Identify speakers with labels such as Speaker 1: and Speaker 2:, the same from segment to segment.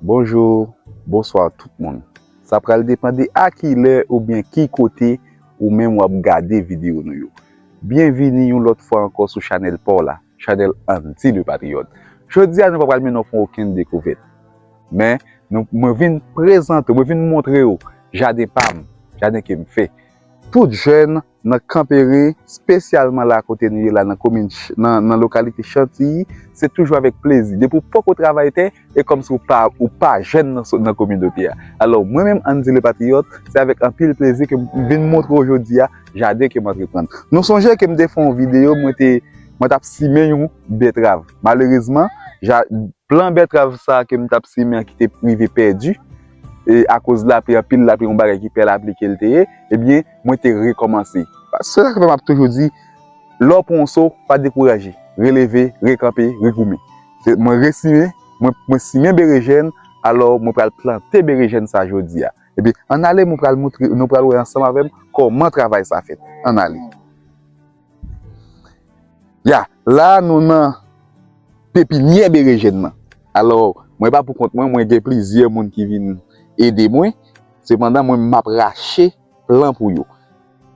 Speaker 1: Bonjour, bonsoir tout moun. Sa pral depan de a ki lè ou byen ki kote ou menm wap gade video nou yo. Byen vini yon lòt fwa ankò sou chanèl pa w la, chanèl Andy le Patriote. Jodi a nou pa pral mennen w fè okenn dekouvèt. Men, nou mwen vin prezante, mwen vin montre w jaden pa m, jaden ke m fè. Tout jèn Nan Kanperen, spesyalman la kote nou ye la nan komin nan lokalite Chantiyi, se toujou avèk plezi. Depi ou poko travay tè, e kòm si ou pa jèn nan kominote a. Alò, mwen menm Andy Le Patriote, se avèk anpil plezi ke m vin montre w jodi a jaden ke m antreprann. Nou sonje ke m te fè yon videyo mwen te mwen t ap simen yon bètrav. Malerezman, plan bètrav sa a ke m t ap simen an ki te rive pèdi, e akoz lapli, anpil lapli, yon bagay ki pè lapli ke l te ye, ebyen, mwen te rekòmanse. Se sa k fè m ap toujou di, lè w pran yon so, pa dekouraje. Releve, rekanpe, regoumen. Mwen resimen, mwen simen berejèn, alò mwen pral plante berejèn sa jodi a. Ebyen, ann ale, nou pral wè ansanm avè m kòman travay sa fèt. Ann ale. Ya, la nou nan pepinyè berejèn nan. Alò, mwen pa pou kont mwen, mwen gen plizyè moun ki vin ede mwen. Sepandan, mwen m ap rache plan pou yo.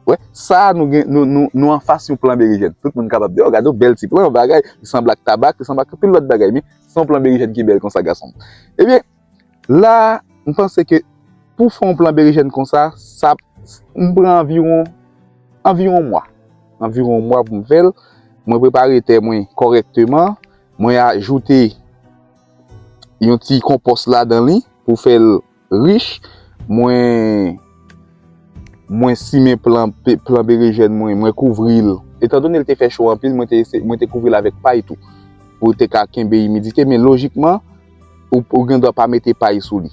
Speaker 1: Wè, sa a nou gen, nou anfas yon plan berejèn. Tout moun kapab di, o, gade yon bèl ti plan, yon bagay, li sanble ak tabak, li sanble ak anpil lòt bagay. Men, se yon plan berejèn ki bèl konsa, gason m. Ebyen. La, m panse ke pou w fè yon plan berejèn konsa, sa ap pran anviwon, anviwon yon mwa. Anviwon yon mwa pou m fè l. Mwen prepare tè mwen kòrèkteman. Mwen ajoute yon ti konpòs ladan li pou fè l rich. Mwen simen plan berejèn mwen, mwen kouvri l. Etan done l te fè cho anpil, mwen te kouvri l avèk pay tou pou l te ka kenbe imidite. Men lojikman. Ou gen dwa pa mete pay sou li.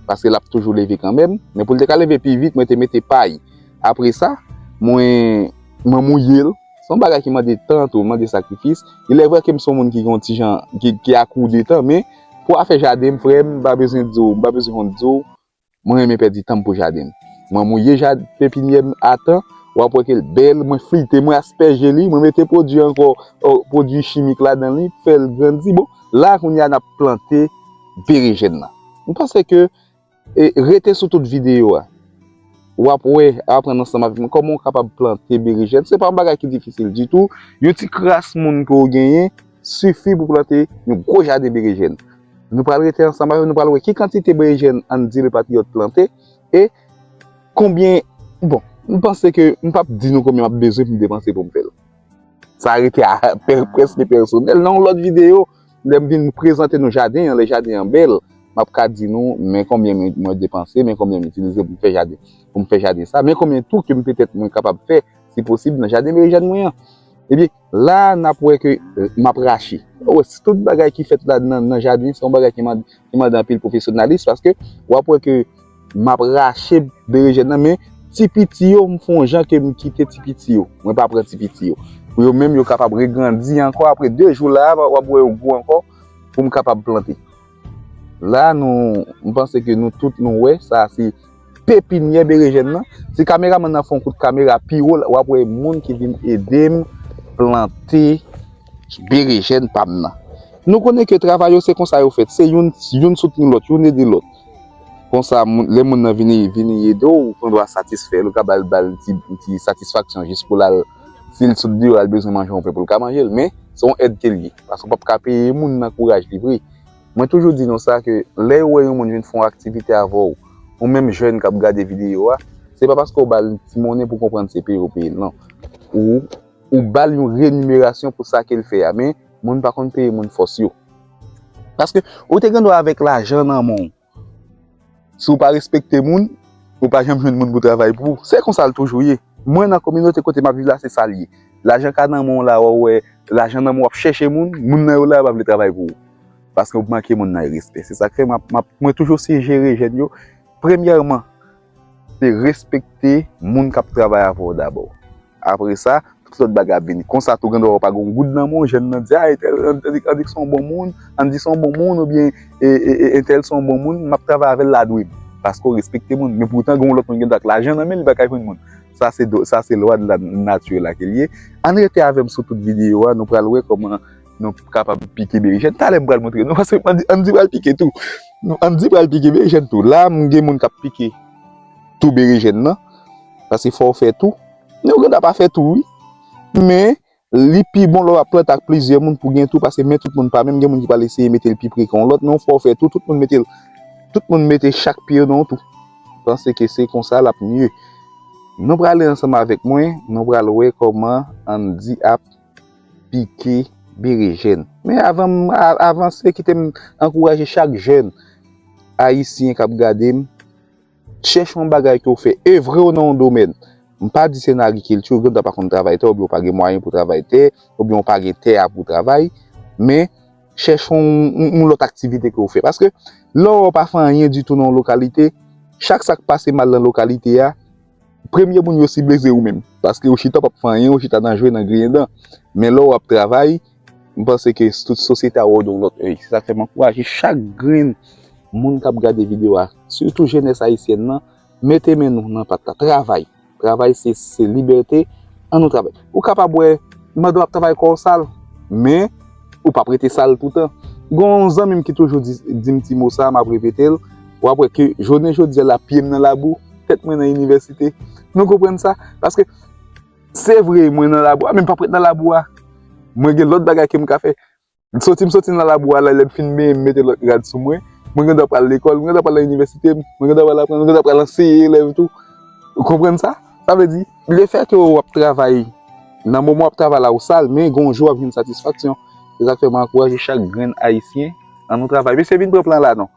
Speaker 1: Paske l ap toujou leve kanmenm. Men pou l te ka leve pi vit, mwen te mete pay. Apre sa, mwen mouye l. Se yon bagay ki mande tan tou, mande sakrifis. Ilèvre ke m se yon moun ki gen yon ti jan, ki ak ou detan. Men, pou afè jaden m, frè m, m pa bezwen di w, m pa bezwen konn di w. Mwen renmen pèdi tanm pou jadenm. Mwen mouye jad pepinyèm a tan, wap wè kel bèl, mwen flite, mwen aspèje li, mwen mete pwodwi ankò pwodwi chimik ladan li pou fèl grandi. Bon, la kounye a nap plante berejèn nan. Mwen panse ke rete sou tout videyo a, wap wè, aprann ansanm avèk mwen kòman ou kapab plante berejèn. Se pa yon bagay ki difisil ditou, yon ti kras moun ke ou genyen. sifi pou plante yon gwo jaden berejèn. Nou pral rete ansanm avèw, nou pral wè ki kantite berejèn Andy le patriote plante e konbyen, bon, m panse ke m p ap di nou konbyen m ap bezwen pou m depanse pou m fè l. Sa rete a preske pèsonèl. Nan yon lòt videyo, lè m vin prezante nou jaden an, lè jaden an bèl, m ap ka di nou men konbyen mwen depanse, men konbyen m itilize pou m fè jaden, pou m fè jaden sa, men konbyen tou ke m petèt mwen kapab fè si posib nan jaden berejèn mwen an. Ebyen. La a, n ap wè ke m ap rache. Ou wè, si tout bagay ki fèt la nan jaden, se yon bagay ki mande anpil pwofesyonalis, paske w ap wè ke m ap rache berejèn nan, men ti piti yo, m fè yon jan ke m kite ti piti yo. Mwen pa pran ti piti yo. Pou yo menm, yo kapab regrandi ankò apre 2 jou la a, w ap wè yo gwo ankò pou m kapab plante. La nou m panse ke nou tout nou wè sa se pepinyè berejèn nan. Si kameraman nan fon kout kamera pi wo wap wè moun ki vin edem plante berejèn pam nan. Nou konnen ke travay yo se konsa yo fèt. Se youn youn soutni lòt, youn ede lòt. Konsa lè moun nan vini vini edew ou gendwa satisfèl ou ka bal bal ti ti satisfaksyon jis pou lal. Si l sot deyò, l bezwen manje yon pen pou l ka manje l. Men, se yon èd ke l ye. Paske w pap ka peye moun nan kouraj li vre. Mwen toujou di nou sa ke lè ou wè yon moun vin fè yon aktivite avè w, ou menm jèn k ap gade videyo a, se pa paske ou ba l yon ti monnen pou konprann se peye ou peye l, non. Ou, ou ba l yon renimerasyon pou sa ke l fè a. Men, moun pa konn peye moun fòs yo. Paske, ou te gen dwa avèk lajan nan men w, Si w pa respekte moun, ou pa janm jwenn moun pou travay pou ou. Se konsa l toujou ye. Mwen nan kominote kote m ap viv la se sa l ye. Lajan ka nan men w la, w ap wè lajan nan men w, w ap chèche moun, moun nan yo la yo pa vle travay pou ou. Paske ou manke moun nan respè. Se sa k fè mwen toujou sijere jèn yo, premyèman, Se respekte moun kap travay avèw dabò. Apre sa, tout lòt bagay ap vini. Konsa tou gen dwa wè ou pa gen yon goud nan men w, jèn nan di a entèl an dik se yon bon moun, an di se yon bon moun oubyen entèl se yon bon moun, map travay avèl la dwe m. Paske ou respekte moun. Men poutan gen yon lòt moun gen dwa ak lajan nan men l, li pa ka jwenn moun. Sa se lwa nati la ke l ye. Ann rete avè m sou tout videyo a, nou pral wè kòman nou kapab pike berejèn. Talè m pral montre nou, paske Andy pral pike tou. Andy pral pike berejèn tou. La m gen moun k ap pike tou berejèn nan, paske fò w fè tou. Men ou gen dwa pa fè tou wi. Men, li pi bon lè w ap plante ak plizyè moun pou gen tou, paske men tout moun pa menm. Gen moun ki pral eseye mete l pi pre ke yon lòt, men ou fò w fè tou. Tout moun mete l, tout moun mete chak pye yo nan yon tou. Panse ke se konsa l ap mye. Nou prale ansanm avèk mwen, nou pral wè kòman Andy ap. pike berejèn. Men avan m avanse kite m ankouraje chak jèn ayisyen k ap gade m, chèche yon bagay ke w fè, evre w nan yon domèn. M pa di se nan agrikilti, ou gen dwa pa konn travay tè, oubyen ou pa gen mwayen pou travay tè, oubyen ou pa gen tè a pou w travay, men chèche yon lòt aktivite ke w fè. Paske lè w pa fè anyen ditou nan yon lokalite, chak sa k pase mal nan lokalite a, Premye moun yo sible se ou menm. Paske ou chita w pap fè anyen, ou chita nan jwe, nan griyen dan. Men lè w ap travay, m panse ke tout sosyete a wè w de yon lòt èy. Se sa k fè m ankouraje chak grenn moun k ap gade videyo a, sitou jenès ayisyèn nan, mete men nou nan pat la. Travay! Travay se libète, an nou travay! Ou kapab wè mandan w ap travay kò w sal, men ou pap rete sal toutan. Gen yon zanmi m ki toujou di m ti mo sa a, m ap repete l, W ap wè ke jounen jodi a la, pye m nan labou, tèt mwen nan inivèsite. Nou konprann sa? Paske, se vre mwen nan labou a, men m pap ret nan labou a. Mwen gen lòt bagay ke m ka fè. Soti m soti nan labou a la, lè m fin benyen m mete lòt rad sou mwen, mwen gen dwa pral lekòl, mwen gen dwa pral nan inivèsite, mwen gen dwa pral aprann, mwen gen dwa pral anseye elèv tou. Ou konprann sa? Sa vle di, lefètke ou ap travay, nan moman w ap travay la ou sal, men gen yon jou w ap jwenn satisfaksyon. Se sa k fè m ankouraje chak grenn Ayisyen, an nou travay. Mesye vin pran plan la non.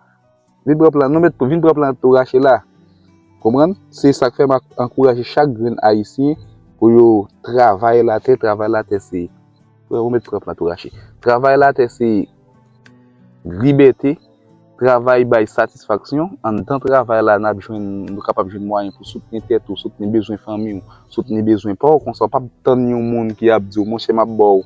Speaker 1: Vin pran plan nou met vin pran plan tou rache la konprann se sak fè map ankouraje chak grenn ayisyen pou yo travay latè travay latè se freo met pran plan tou rache travay latè se libète travay bay satisfaksyon anndan travay la nap jwenn nou kapab jwenn mwayen pou soutni tèt ou soutni bezwen fanmiw soutni bezwen paw konsa ou pap tann yon moun ki ap diw monchè map baw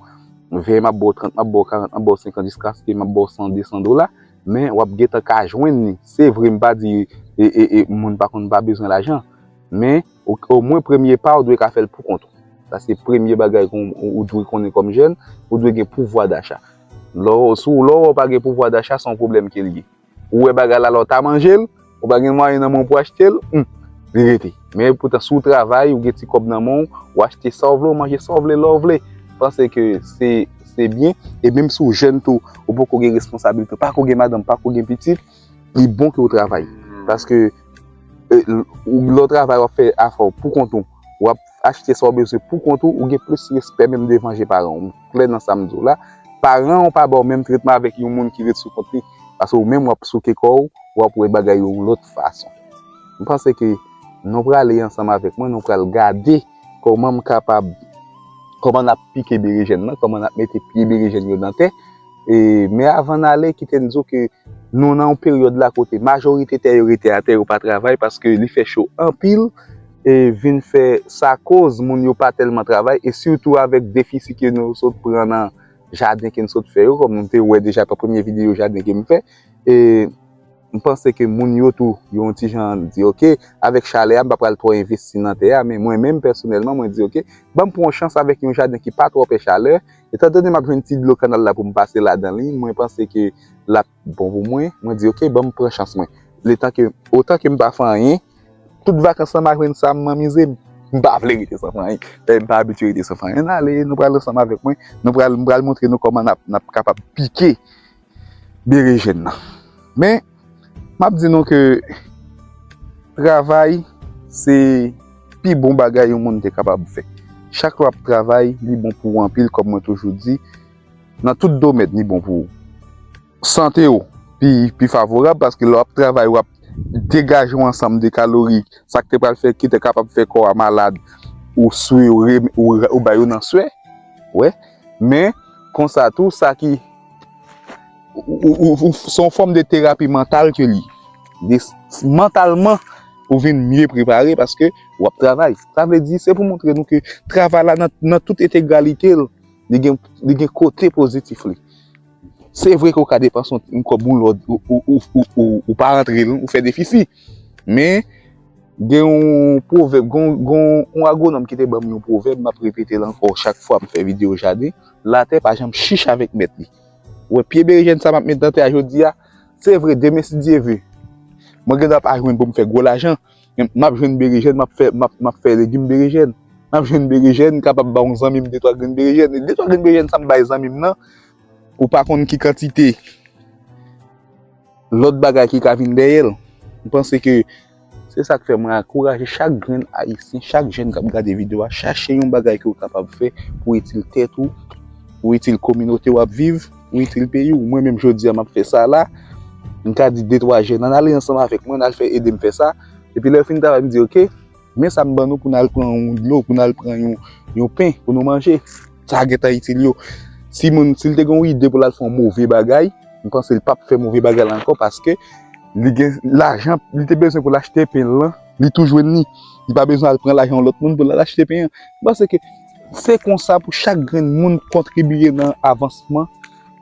Speaker 1: 20 map baw 30 map baw 40 map baw 50 jiskaske map baw 100 200 dola men wap gentan ka jwenn li se vre m pa di moun pa konn pa bezwen lajan men omwen premye pa ou dwe ka fèl poukont ou sa se premye bagay ou dwe konnen kòm jèn ou dwe gen pouvwa dacha lè ou wè ou pa gen pouvwa dacha se yon pwoblèm ke l ye ou wè bagay la lè ou ta manje l Ou pa gen mwayen nan men w pou achte l, humm, li rete. Men poutan si w travay, ou gen ti kòb nan men w, ou achte sa w vle, ou manje sa w vle, lè w vle. Panse ke se byen. E menm si w jèn tou, ou poko gen responsabilite, ou pako gen madanm, ou pako gen pitit, li bon ke w travay. Paske lè w travay, w ap fè afè w poukont ou. achte sa w bezwen pou kont ou, ou gen plis respè menm devan je paran w. M klè nan sa m di w la. Paran w pa ba w menm tretman avèk yon moun ki ret sou kont li, paske ou menm w ap souke kò w, w ap wè bagay yo yon lòt fason. M panse ke nou prale ansanm avèk mwen, nou pral gade kòman m kapab, kòman n ap pike berejèn nan, kòman n ap mete pye berejèn yo nan tè. E, men avan n ale, kite m di w ke nou nan yon peryòd la kote majorite tè yo rete atè, yo pa travay paske li fè cho anpil. vin fè sa koz moun yo pa tèlman travay e sitou avèk defisi ke nou sot pran nan jaden ke n sot fè yo kòm nou te wè deja nan premye videyo jaden ke m fè e m panse ke moun yo tou yo yon ti jan di ok avèk chalè a m pa pral twò envesti nan tè a men mwen menm pèsonèlman mwen di ok banm pran yon chans avèk yon jaden ki pa twò pè chalè etan done m ap jwenn ti dlo kanal la pou m pase ladan li mwen panse ke l ap bon pou mwen, mwen di ok banm pran chans mwen, letan ke, otan ke m pa fè anyen, tout vakans lan ma jwenn sa m anmize, m pa vle rete san fè anyen, e m pa abitye rete san fè anyen, ale nou pral ansanm avèk mwen, nou pral, m pral montre nou kòman nap, nap kapab pike berejèn nan, men map di nou ke travay se pi bon bagay yon moun te kapab fè, chak lè wap travay li bon pou ou anpil kòm mwen toujou di. Nan tout domèn li bon pou sante ou pi favorab paske lè wap travay wap degaje yon ansanm de kalori sak te pral fè ki te kapab fè kò a malad ou swe ou bay yo nan swe wè men konsa tou sa ki ou son fòm de terapi mantal ke li mantalman ou vin mye prepare paske wap travay sa vle di se pou montre nou ke travay la nan tout etegalite li gen li gen kote pozitif li se vre ke ou ka depanse yon kòb yon lòt ou pa rantre l ou fè defisi men gen yon pwovèb gen yon agwonòm ki te ban m yon pwovèb m ap repete l ankò chak fwa m fè videyo jaden latè pa janm chich avèk mèt li ou wè pye berejèn sa m ap met nan tè a jodi a se vre demen si Dye ve mwen gen dwa pa jwenn pou m fè gwo lajan Map jwenn berejèn map fè map fè legim berejèn map jwenn berejèn m kapab ba yon zanmi m de twa grenn berejèn e de twa grenn berejèn sa m bay zanmi m nan ou pa konn ki kantite lòt bagay ki ka vin dèyè l m panse ke se sa k fè mwen ankouraje chak grenn ayisyen chak jèn kap gade videyo a chache yon bagay ke w kapab fè pou itil tèt ou pou itil kominote wap viv. Ou itil peyi ou, mwen menm jodi a m ap fè sa la, m ka di de twa jèn ann ale ansanm avèk mwen, ann al fè ede m fè sa, epi lè yo fin travay m di ok, men sa m ban nou pou n al pran yon dlo, pou n al pran yon pen pou nou manje, sa gen tan itil yo. Si moun, si l te gen yon ide pou l al fè yon move bagay, m panse l pa p fè move bagay la ankò paske li gen lajan li te bezwen pou l achte pen lan, li tou jwenn li, li pa bezwen al pran lajan yon lòt moun pou l al achte pen an. M panse ke. Se konsa pou chak grenn moun kontribiye nan avansman,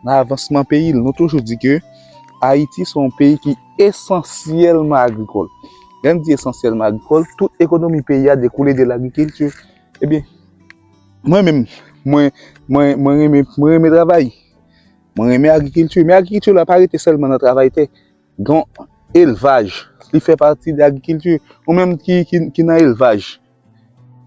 Speaker 1: nan avansman peyi l. Nou toujou di ke Ayiti se yon peyi ki esansyèlman agrikòl. Lè n di esansyèlman agrikòl, tout ekonomi peyi a dekoule de lagrikilti. Ebyen, mwen menm, mwen, mwen, mwen renmen, mwen renmen travay. Mwen renmen agrikilti. Men agrikilti la pa rete sèlman nan travay tè. Donk, elvaj, li fè pati de agrikilti. Ou menm ki, ki, ki nan elvaj.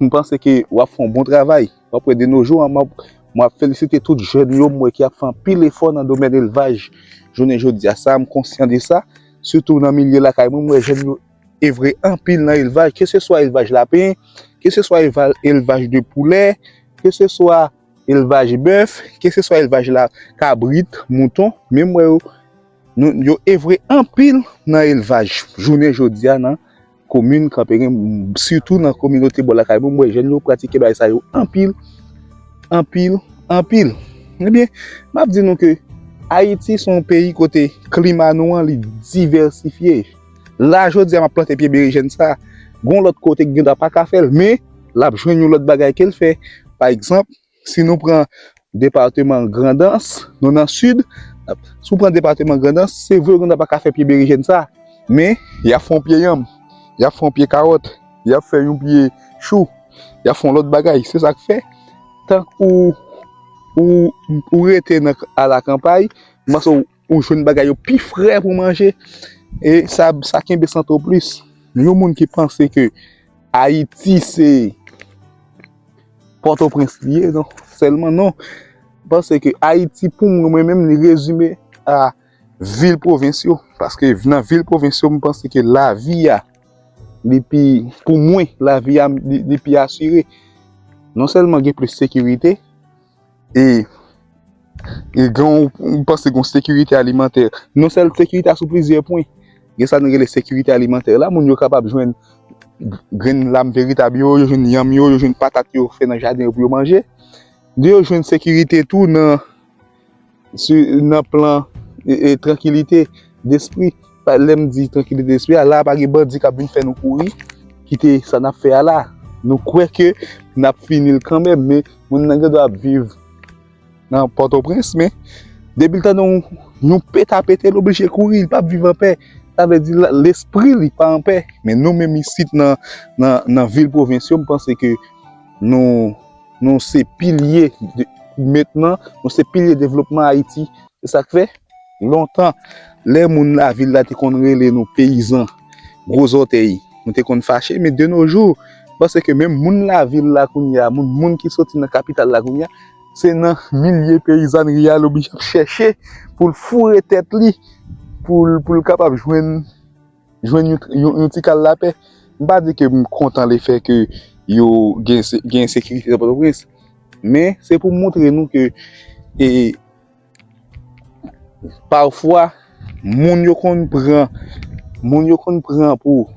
Speaker 1: M panse ke wap fè yon bon travay. Wap wè de no jou an mwen felisite tout jèn yo m wè ki ap fè anpil efò nan domèn elvaj jounen jodi a. Sa m konsyan de sa. Sitou nan milye lakay mwen m wè jèn yo evre anpil nan elvaj. Ke se swa elvaj lapen, ke se swa elvaj de poulè, ke se swa elvaj bèf, ke se swa elvaj la kabrit, mouton. Men m wè yo evre anpil nan elvaj jounen jodi a nan. komin kanperen sitou nan kominote bò lakay mwen m wè jèn yo pratike bagay sa yo anpil anpil anpil ebyen m ap di nou ke ayiti son peyi kote klima nou an li divèsifye la jodi a m ap plante pye berejèn sa gon lòt kote ki gen dwa pa ka fè l men l ap jwenn yon lòt bagay ke l fè pa egzanp Si nou pran departeman Grandans, nou nan sid, si w pran departeman Grandans, se vre Grandans pa ka fè pye berejèn sa, men y ap fè yon pye yanm, y ap fè yon pye kawòt, y ap fè yon pye chou, y ap fè yon lòt bagay. Se sa k fè, tank ou rete nan alakanpay, m panse Ou jwenn bagay yo pi fre pou manje e sa kenbe sante w plis. Yon moun ki panse ke Ayiti se Pòtoprens li ye, non, sèlman non. Mwen panse ke Ayiti pou mwen menm li rezime a vil pwovens yo. Paske nan vil pwovens yo mwen panse ke lavi a li pi, pou mwen, lavi a li pi asire. Non sèlman gen plis sekirite. e nou panse gen yon sekirite alimantè, non sèlman sekirite a sou plizyè pwen. Gen sa nou rele sekirite alimantè la, moun yo kapab jwenn grenn lam veritab yo, yo jwenn yanm yo, yo jwenn patat yo fè nan jaden yo pou yo manje. Yo jwenn sekirite tou nan. Su nan plan e trankilite despri pa lèm di trankilite despri a la pa gen bandi kap vin fè nou kouri kite sa nap fè a la nou kwè ke nap finil kanmèm men moun nan gen dwa ap viv nan pòtoprens men depi l tande yon pèt a pete l oblije kouri li pap viv anpè sa vle di lespri li pa anpè men nou menm isit nan nan vil pwovens yo m panse ke nou Nou se pilye mentnan, nou se pilye devlopman Ayiti. Se sa k fè, lontan, lè moun lavil la te konn rele nou peyizan gwo zòtèy, nou te konn fache. Men de no jou, pase ke menm moun lavil la kounye a, moun moun ki soti nan kapital la kounye a, se nan milye peyizanri a l oblije ap chèche pou l foure tèt li, pou l kapab jwenn. jwenn yon ti kal lapè. M pa di ke m kontan le fè ke yo gen ensekirite nan Pòtoprens, men se pou moutre nou ke e pafwa moun yo konn pran, moun yo konn pran pou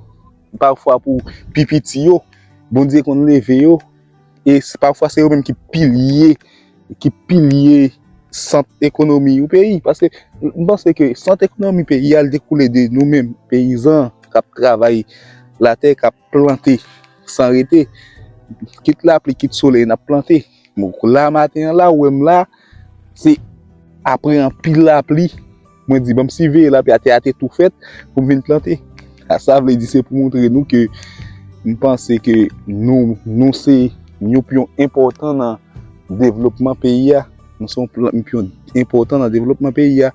Speaker 1: pafwa pou pi piti yo, Bondye konn leve yo. E pafwa se yo menm ki pilye, ki pilye sant ekonomi yon peyi. Paske m panse ke sant ekonomi peyi a li dekoule de nou menm peyizan k ap travay latè, k ap plante san rete. Kit lapli, kit solèy n ap plante. Bon, la maten an la, ou wè m la, se apre anpil lapli. Mwen di banm siveye la pi a tè a te tou fèt pou m vin plante. A sa vle di se pou montre nou ke m panse ke nou, nou se yon pyon enpòtan nan devlopman peyi a. Nou se yon pyon enpòtan nan devlopman peyi a.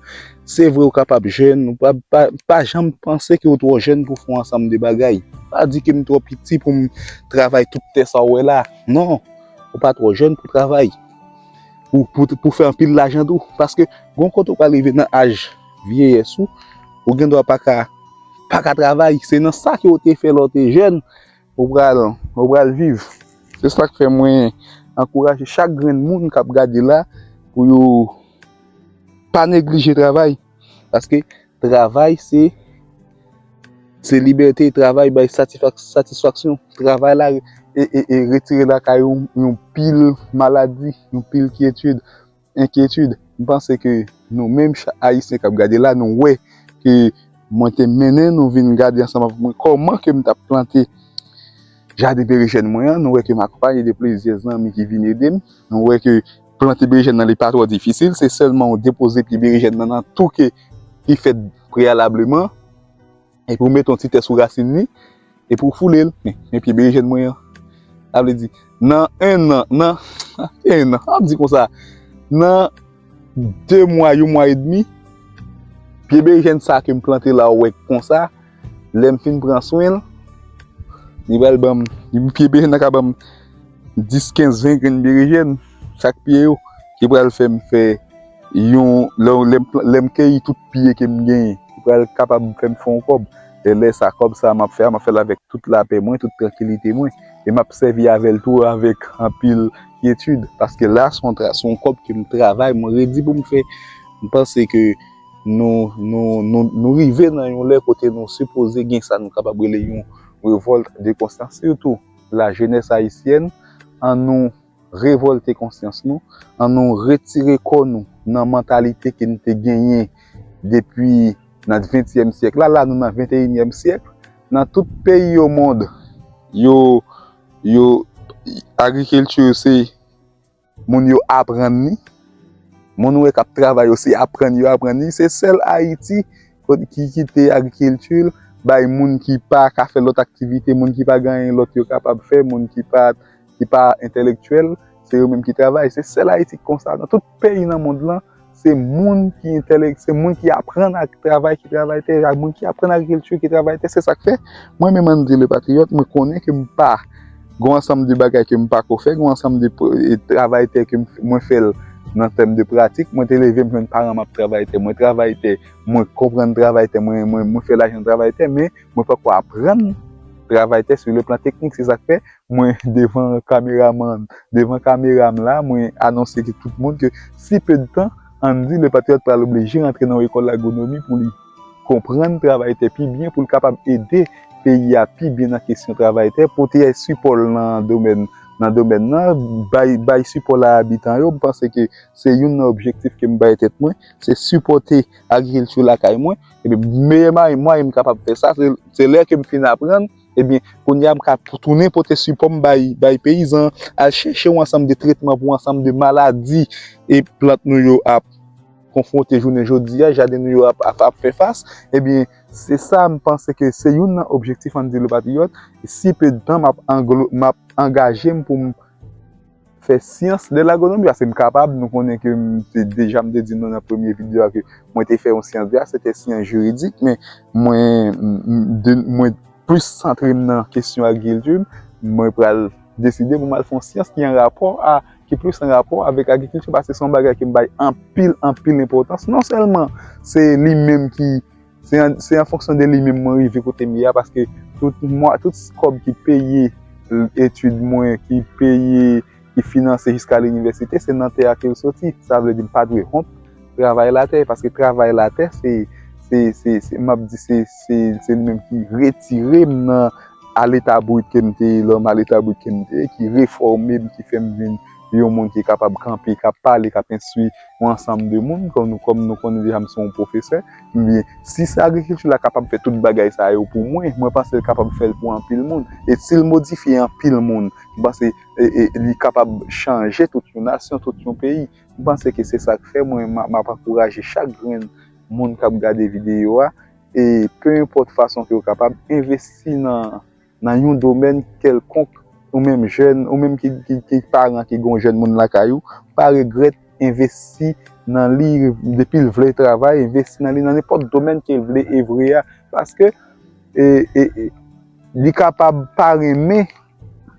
Speaker 1: Se vre ou kapab jèn, ou pa, pa, pa janm panse ke ou twò jèn pou fon ansanm de bagay. Pa di ke m twò piti pou m travay tout tè sa ou wè la. Non! Ou pa twò jèn pou travay. pou fè anpil lajan tou. Paske, gon kote ou pral rive nan aj vyeyès ou, ou gen dwa pa ka travay. Se nan sa ke ou te fè lè ou te jèn, ou pral viv. Se sa k fè mwen ankouraje chak grenn moun k ap gade la pou yo pa neglije travay. Paske, Travay se Se libète, travay bay satisfaksyon, travay la retire lakay ou yon pil maladi, yon pil kyetid, enkyetid. M panse ke nou menm Ayisyen k ap gade la, nou wè ke mwen te mennen nou vin gade ansanm avèk mwen kòman ke m t ap plante jaden berejèn mwen an. Nou wè ke m akonpaye de plizyè zanmi ki vin ede m. Nou wè ke Plante berejèn nan li pa twò difisil, se sèlman ou depoze pye berejèn nan nan tou ke li fèt preyalableman, epi ou mete yon ti tè sou rasin li, epi ou foule l, men pye berejèn mwen an, sa vle di nan 1 nan, nan 1 nan, an di konsa, nan 2 mwa, yon mwa edmi, pye berejèn sa ke m plante la ou wè konsa, Lèm fin pran swenl li pral banm yon pye berejèn nan ka banm 10 15 20 grenn berejèn chak pye yo ki pral fèm fè yon lèm keyi tout pye kem genyen li pral kapab fèm fè yon kòb e lè sa kòb sa map fè a map fèl avèk tout lapè mwen tout trankilite mwen e map sèvi avèl tou avèk anpil kyetid paske la son kòb kem travay mwen redi poum fè mpanse ke Nou nou nou nou rive nan yon lè kote nou sipoze gen sa nou kapab rele yon revòlt de konsyans sitou la jenès ayisyèn an nou revòlte konsyans nou an nou retire kò nou nan mantalite ke nou te genyen depi nan ventyèm syèk la la nou nan venteyinyèm syèk nan tout peyi yo mond yo yo agrikilti se. Moun yo aprann li. Moun ou wè kap travay yo se aprann yo aprann li. Se sèl Ayiti ki kite agrikilti l bay moun ki pa ka fè lòt aktivite, moun ki pa gen anyen lòt yo kapab fè, moun ki pa entelektyèl, se yo menm ki travay. Se sèl Ayiti ki konsa. Nan tout peyi nan mond lan, Se moun ki entèlek, se moun ki aprann ak travay ki travay tè, ak moun ki aprann agrikilti ki travay tè. Se sa k fè, mwen menm Andy le Patriote, mwen konnen ke m pa gon ansanm de bagay ke m pa ko fè, gon ansanm de travay tè ke mwen fè l nan tèm de pratik. Mwen te leve, mwen jwenn paran m ap travay tè, mwen travay tè, mwen konprann travay tè, mwen fè lajan travay tè, men. Mwen pako aprann travay tè su le plan teknik se sak fè mwen devan kameramann devan kamera m la mwen anonse ke tout moun ke si pe de tan Andy le patriote pral oblije rantre nan yon ekòl lagonomi pou li konprann travay tè pi byen pou l kapab ede peyi a pi byen nan kesyon travay tè pote sipò l nan domèn nan domèn nan bay bay sipò l a abitan yo m panse ke se youn nan objektif ke m bay tèt mwen se sipòte agrikilti lakay mwen. Epi meyè mwayen m kapab fè sa, se lè ke m fin aprann, ebyen kounye a m ka tounen pote sipò m bay peyizan, al chèche yon ansanm de tretman pou yon ansanm de maladi e plant nou yo ap konfwonte jounen jodi a, jaden nou yo ap fè fas, ebyen se sa m panse ke se youn nan objektif Andy Le Patriote, si pe de tan m ap angaje m pou m. fè syans de l'agronomie paske m kapab nou konnen ke m te deja m te di nou nan premye video a ke mwen te fè yon syans de a se te syans jiridik men mwen plis santre m nan kesyon agrikilti mwen pral deside pou m al fè yon syans ki an rapò a ki plis an rapò avèk agrikilti paske se yon bagay ki m bay anpil anpil enpòtans non sèlman se li menm ki Se an fonksyon de li menm mwen rive kote m ye a paske tout kòb ki peye etid mwen, ki peye, ki finanse jiska linivèsite se nan tè a ke l soti. Sa vle di m pa dwe wont travay latè paske travay latè se m ap di se li menm ki retire m nan a leta brut ke m te ye lò m a leta brut ke m te ye ki refòme m, ki fè m vin. yon moun ki kapab kanpe, k ap pale, k ap enstwi yon ansanm de moun, kòm nou konnen deja m se yon pwofesè, ebyen, si se agrikilti la kapab fè tout bagay sa yo pou mwen, mwen panse l kapab fè l pou anpil moun. E si l modifye anpil moun, m panse li kapab chanje tout yon nasyon, tout yon peyi. M panse ke se sa k fè mwen m ap ankouraje chak grenn moun k ap gade videyo a, e pe enpòt fason ke yo kapab, envesti nan. nan yon domèn kèlkonk, ou menm jèn, ou menm ki paran ki gen yon jèn moun lakay ou, pa regrèt envesti nan li depi l vle travay, envesti nan li nan nenpòt domèn ke l vle evre a, paske li kapab pa renmen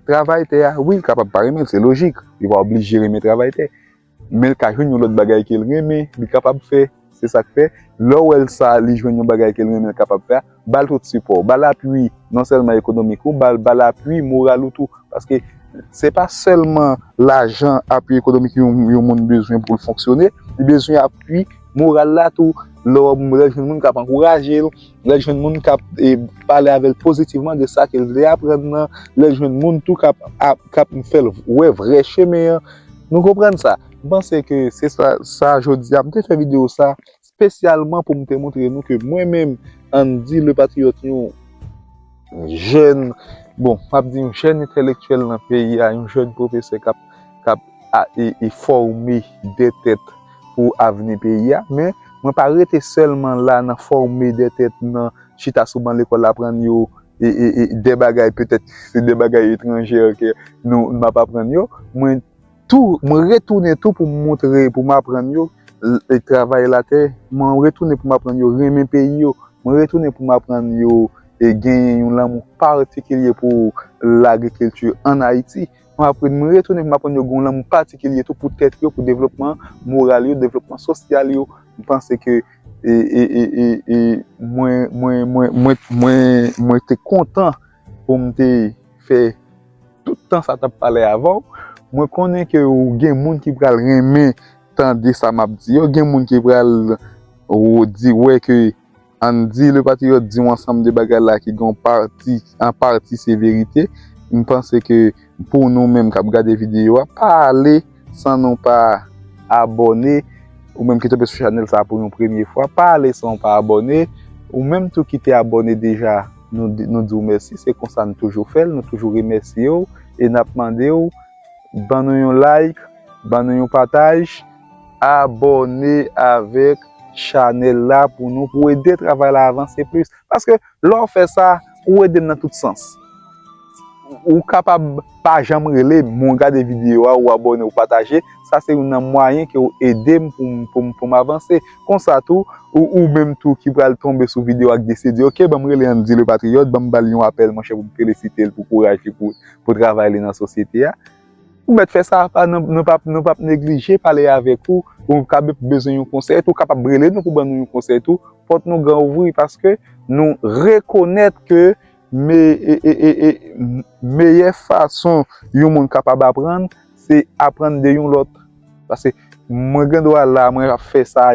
Speaker 1: travay tè a, wi l kapab pa renmen l, se lojik, li pa oblije renmen travay tè. Men l ka jwenn yon lòt bagay ke l renmen, li kapab fè. Se sa k fè, lè w wè l sa li jwenn yon bagay ke l renmen l kapab fè a, ba l tout sipò w, ba l apui non sèlman ekonomik ou, ba l ba l apui moral ou tou. Paske, se pa sèlman lajan, apui ekonomik yon moun bezwen pou l fonksyone, li bezwen apui moral la tou. Lè w wè yon moun, lè w jwenn yon moun k ap ankouraje l, Lè l jwenn moun k ap pale avè l pozitivman de sa ke l vle aprann nan, lè l jwenn moun tou k ap fè l wè vrè chemen an, nou konprann sa. M panse ke se sa jodi a. M te fè videyo sa spesyalman pou m te montre nou ke mwen menm Andy Le Patriote yon jèn, bon m ap di yon jèn entelektyèl nan peyi a, yon jèn pwofesè k ap fòme de tèt. pou avni peyi a, men mwen pa rete sèlman la nan fòme de tèt, nan chita sou ban lekòl aprann yo de bagay petèt se de bagay etranjè ke nou m ap aprann yo, mwen tou mwen retounen tou pou m montre pou m aprann yo travay latè, mwen retounen pou m aprann yo renmen peyi yo, mwen retounen pou m aprann yo genyen yon lanmou patikilye pou lagrikilti ann Ayiti. M aprann, m retounen pou m aprann yo gen yon lanmou patikilye tou pou tèt yo, pou devlopman moral yo, devlopman sosyal yo. M panse ke mwen te kontan pou m te fè tout tan sa t ap pale avè w. Mwen konnen ke gen moun ki pral renmen tande sa m ap di yo, gen moun ki pral di wè ke. Ann di le patriote di yon ansanm de bagay la ki gen yon pati, an pati se verite. M panse ke pou nou menm k ap gade videyo a, pa ale san nou pa abòne. Ou menm ki tonbe sou chanèl sa a pou yon premye fwa, pa ale san ou pa abòne. Ou menm tou ki te abòne deja, nou di w mèsi. Se konsa n toujou fè l, nou toujou remèsye w e n ap mande w ban nou yon like, ban nou yon pataj. Abòne avèk chanèl la pou nou pou ede travay la avanse plis paske lè w fè sa ou ede m nan tout sans ou kapab pa janm rele m men w gade videyo a ou abòne ou pataje sa se youn nan mwayen ke w ede m pou m avanse konsa tou ou menm tou ki pral tonbe sou videyo a ki deside di ok ban m rele Andy le patriote ban m ba l yon apèl monchè pou m felisite l pou kouraj li pou travay li nan sosyete a. Ou mèt fè sa apa nou pap neglije pale avèk ou ou ka bezwen yon konsèy tou ou kapab rele nou pou ban nou yon konsèy tou pòt nou gran ouvri paske nou rekonèt ke meyè fason yon moun kapab aprann se aprann de yon lòt paske mwen gen dwa la mwen ap fè sa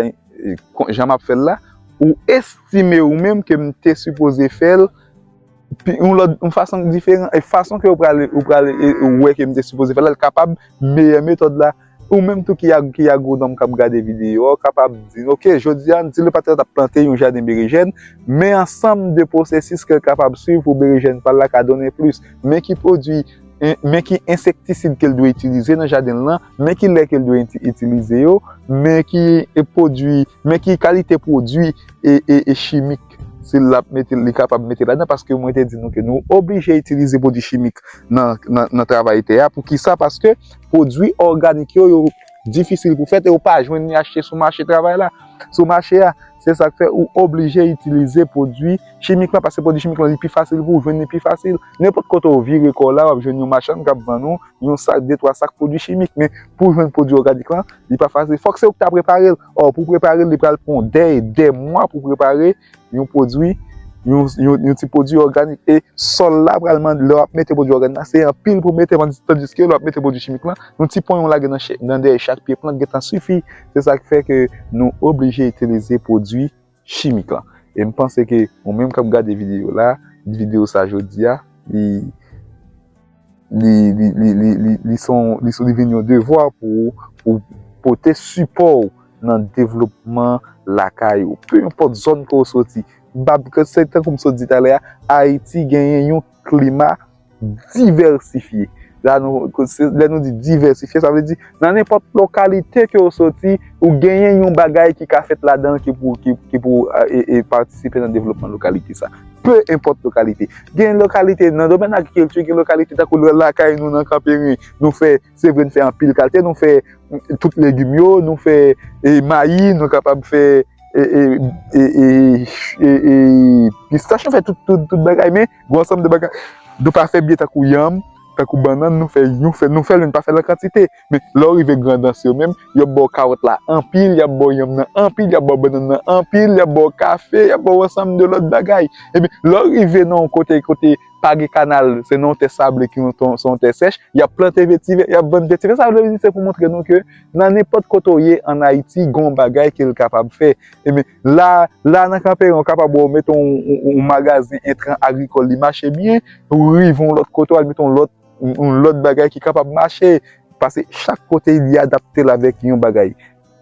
Speaker 1: jan map fèl la ou estime ou menm ke m te sipoze fèl pi yon lòt, yon fason ki diferan, e fason ke ou pral, ou pral wè ke m te sipoze fè la, l kapab meyè metòd la. Ou menm tou ki ki agwonòm k ap gade videyo a, ou kapab di, ok, jodi a, di le patnè t ap plante yon jaden berejèn, men ansanm de pwosesis ke l kapab swiv pou berejèn pa l la ka donnen plis, men ki pwodui, men ki ensektisid ke l dwe itilize nan jaden l lan, men ki lè ke l dwe itilize yo, men ki pwodui, men ki kalite pwodui e chimik. chimik, si l ap mete l, li kapab mete ladan paske mwen te di nou ke nou oblije itilize pwodui chimik nan travay tè a. Poukisa? Paske pwodui òganik yo, yo difisil pou fèt e ou pa jwenn li achte sou mache travay la, sou mache a. Se sa k fè ou oblije itilize pwodui chimik lan paske pwodui chimik lan li pi fasil pou ou jwenn li pi fasil. Nenpòt kote ou vire kò w la, w ap jwenn yon machann k ap vann ou yon sak, de twa sak pwodui chimik. Men pou w jwenn pwodui òganik lan, li pa fasil. Fòk se ou ki ta prepare l. Or pou prepare l li pral pran w dè e dè mwa pou prepare yon pwodwi, yon ti pwodwi òganik. E sòl la pral mande, lè w ap mete pwodwi òganik la, se anpil pou w mete tandiske lè w ap mete pwodwi chimik lan, yon ti ponyen w lage nan dèyè chak pye plant gentan sifi. Se sa k fè ke nou oblije itilize pwodwi chimik lan em panse ke ou menm kap gade video la video sa jodia li li li li li li son li son li vin yon devwa pou ou pou ou pote sipò ou nan devlopman lakay ou pe enpòt zòn ke ou soti bab ke se tankou m sot di talè a ayiti genyen yon klima Divèsifye, la nou, lè nou di divèsifye sa vle di nan nenpòt lokalite ke ou soti ou genyen yon bagay ki ka fèt ladan ki pou, ki pou patisipe nan devlopman lokalite sa. Pe enpòt lokalite. Gen lokalite nan domèn agrikilti, gen lokalite tankou lakay nou nan Kanperen, nou fè, se vre nou fè anpil kalte, nou fè tout legim yo, nou fè mayi, nou kapab fè e, e, e, e, e, e, pistach, nou fè tout, tout, tout bagay men. Gwo ansanm de bagay Nou pa fè byen tankou yanm, tankou bannann nou fè yon fè nou fè lè nou pa fè l an kantite men lè w rive grandans yo menm yo ba w kawòt la anpil y ap ba w yanm nan anpil y ap ba w bannann nan anpil y ap ba w kafe y ap ba w ansanm de lòt bagay epi lè w rive nan yon kote kote pa gen kanal se nan yon tè sable ki yon se yon tè sèch y ap plante vetivè y ap vann vetivè sa vle di se pou montre nou ke nan nenpòt kote w ye an Ayiti gen yon bagay ke l kapab fè. La, la nan Kanperen ou kapab wè ou mete yon magazen entran agrikòl li mache byen, ou rive yon lòt kote ou al mete yon lòt, yon lòt bagay ki kapab mache. Pase chak kote li adapte l avèk yon bagay.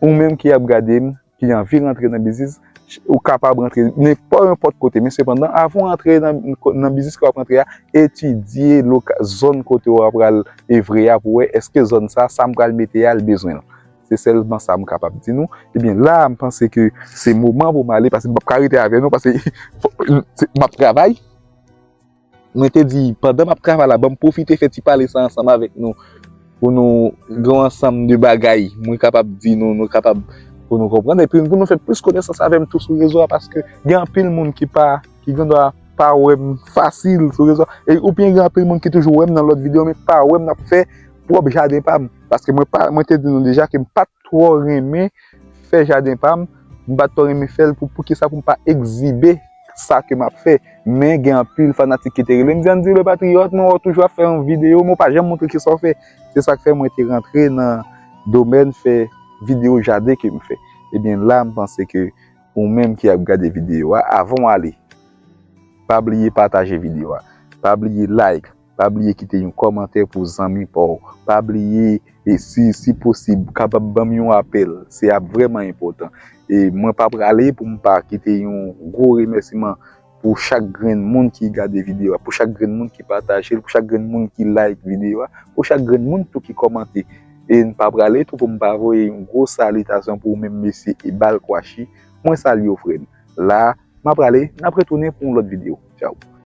Speaker 1: Ou menm ki ap gade m, ki anvi rantre nan biznis, ou kapab rantre nan po enpòt kote. Men sepandan avan ou antre nan biznis ke w ap rantre a, etidye loka, zòn kote ou a pral evre a pou wè èske zòn sa, sa m pral mete a l bezwen l. Se sèlman sa m kapab di nou. Ebyen la a m panse ke se moman pou m ale paske m pap ka rete avè nou paske m ap travay. Mwen te di pandan m ap travay la banm pwofite fè ti pale sa ansanm avèk nou pou nou gen yon ansanm de bagay mwen kapab di nou, nou kapab pou nou konprann epi pou nou fè plis konesans avè m tou sou rezo a paske gen anpil moun ki pa. ki gen dwa pa wè m fasil sou rezo e ou byen gen anpil moun ki toujou wè m nan lòt videyo men pa wè m nan fè pwòp jaden pa m paske mwen pa mwen te di nou deja ke m pa twò renmen fè jaden pa m m pa twò renmen fè l pou pou ki sa pou m pa ekzibe sa ke m ap fè men gen anpil fanatik ki te rele m di an di le patriyòt mwen wè w toujou ap fè yon videyo men w pa janm montre ki sa w fè se sa k fè mwen te rantre nan domèn fè videyo jaden ke m fè e byen la m panse ke Ou menm ki ap gade video a avan w ale pa bliye pataje video a, pa bliye like, pa bliye kite yon kòmantè pou zanmi pa w, pa bliye e si si posib kapab banm yon apèl se ap vrèman enpòtan e mwen pa prale pou m pa kite yon gwo remèsiman pou chak grenn moun ki gade video a, pou chak grenn moun ki pataje l, pou chak grenn moun ki like video a, pou chak grenn moun tou ki kòmante. E m pa prale tou pou m pa voye yon gwo salitasyon pou ou menm mesye Ebal Kwashi. Mwen salye w frè m. La a, m ap prale, n ap retounen pou yon lòt video. Tchaw!